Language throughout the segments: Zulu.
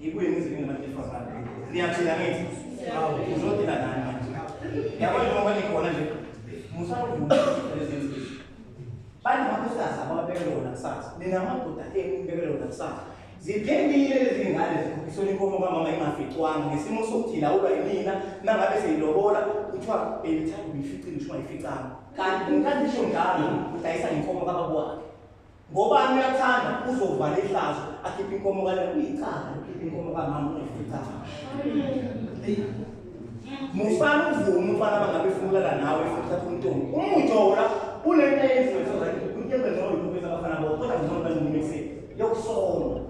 Yikuyini izwi ngabantu besifazane? Niyaphila ngithi? Uzophila nani manje? Yabona njengoba nikhona nje, musakuvuma lezi zinto. Banamakhosikazi abababekela wona kusasa. Ninamadoda enu nibekela wona kusasa. Ziphelile lezi ngane zikhokhiswa inkomo kamama ingaficwanga ngesimo sokuthi ilawulwa yimina nangabe seyilobola kuthiwa beyithanda uyificile ngisho ungayificanga. Kanti kanti isho njalo udayisa inkomo kababa wakhe. Ngobani uyathanda uzovala ihlazo akhiphe inkomo kale uyicala ukhiphe inkomo kamama uyificayo. Musana uvume umfana bangabe efunulala nawe futhi uthatha umntombi. Umujora unento eyenziwe so right unyebe noyo ubeza abafana bo kodwa ngizona bani umuntu yokusona.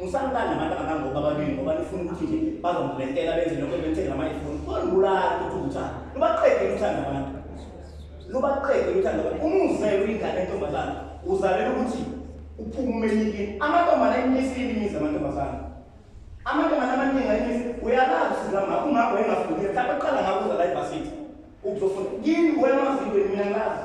Musanibani nabantu abangangoku ababili ngoba nifuna ukuthi nje bazomlentela benze lokho ebethekela amayifoni. Kolibulala ukuthi uthanda. Lubaqede uthanda abantu. Lubaqede uthanda abantu. Uma uzele uyingane entombazana uzalela ukuthi uphume umenyikini. Amantombazana ayimisile imizi amantombazana. Amantombazana amaningi ayimisile. Uyalazi usiza ngakho ungakho engafundile. Mhlawumbe uqala ngakuza la ebhasini. Ukuzofunda. Yini wena wazi into mina ngazi.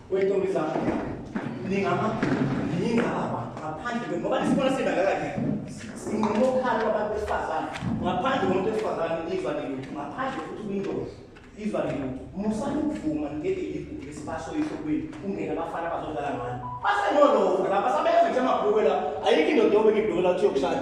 Wentombi zakho ningama ningaba ngaphandle kwe ngoba nisibona singaka kanye sinqumo khalo abantu besifazane ngaphandle komuntu wesifazane izwa lelutho ngaphandle futhi kwindoda izwa lelutho musani ukuvuma ngeke yigugu lesibasho ihlokweni kungena abafana bazodlala ngani basenolova la basabeza nje amabhukwe la ayikho indoda yobeka ibhukwe la uthi yokushada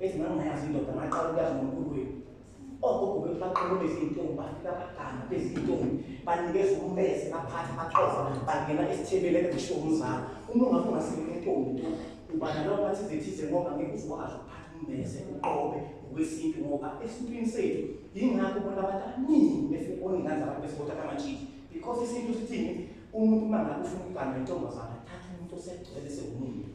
Ethi mangayazi indoda ngaqala ukuyazi ngomkhulu wenu. Ogogo bethu baqhamuka izintombi bafika abadala bezintombi banikeza ummese baphatha baxova bangena esithebele ngisho umzala. Uma ungathi ungasekela intombi tu uba nalo bathi zithize ngoba ngeke uzokwazi ukuphatha ummese uqobe ngokwesintu ngoba esintwini sethu yingakho bona abantu abaningi befike boningane zabantu besibothatha amajiki because isintu sithini umuntu uma ngabe ufuna ukugana intombazana thatha umuntu osegcwele sewumuntu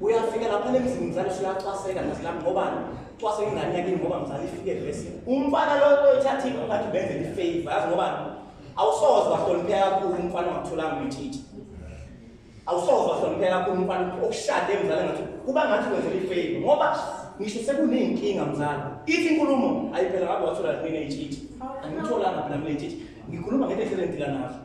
uyafika lapha nemzini mzali usuyacwaseka mzali lami ngoba cwaseka ingane yakini ngoba mzali ifike vese umfana lo oyithathile ungathi benze ifavor yazi ngoba awusoze wahlonipheka kakhulu umfana ongatholanga umthithi awusoze wahlonipheka kakhulu umfana okushade mzali ngathi kuba ngathi wenzela ifavor ngoba ngisho sekuneyinkinga mzali ithi inkulumo ayiphela ngabe wathola mina ithithi angitholanga phela mina ithithi ngikhuluma ngento ehlele ngidila nazo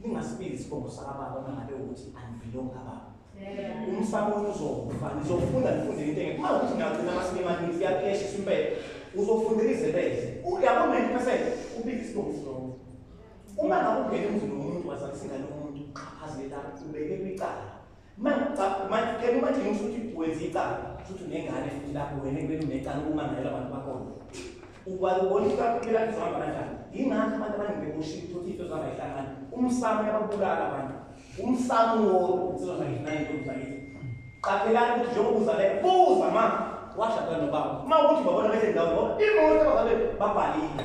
Ningasibizi isibongo sakababa uma ngabe ukuthi angivilongi kababa. Umsamo uzofa, nizofunda nifunde into engekho. Uma ukuthi ngagcina amasini amaningi, siyaphesha isimpela. Uzofundela izebeze. Uyabo 90% ubiza isibongo silonke. Uma ngabe ungena emzini womuntu wazalisa ingane yomuntu, qhaphazelelani, ubeke kwicala. manje kena manje ngisho ukuthi wenza icala futhi unengane futhi lapho wena kumele unecala uma ngayela abantu bakhona ukwala ubona ukuthi baphila kuzohamba kanjani yingakho abantu abaningi bekushilo ukuthi into zihamba ihlangana umsamo yababulala abantu umsamo wodwa insizwa zakithi nayintombi zakithi qaphelani ukuthi njengoba uzaleka buza ma washada nobaba uma ukuthi babona bese ndawo ngoba imoto abazalwe babhalile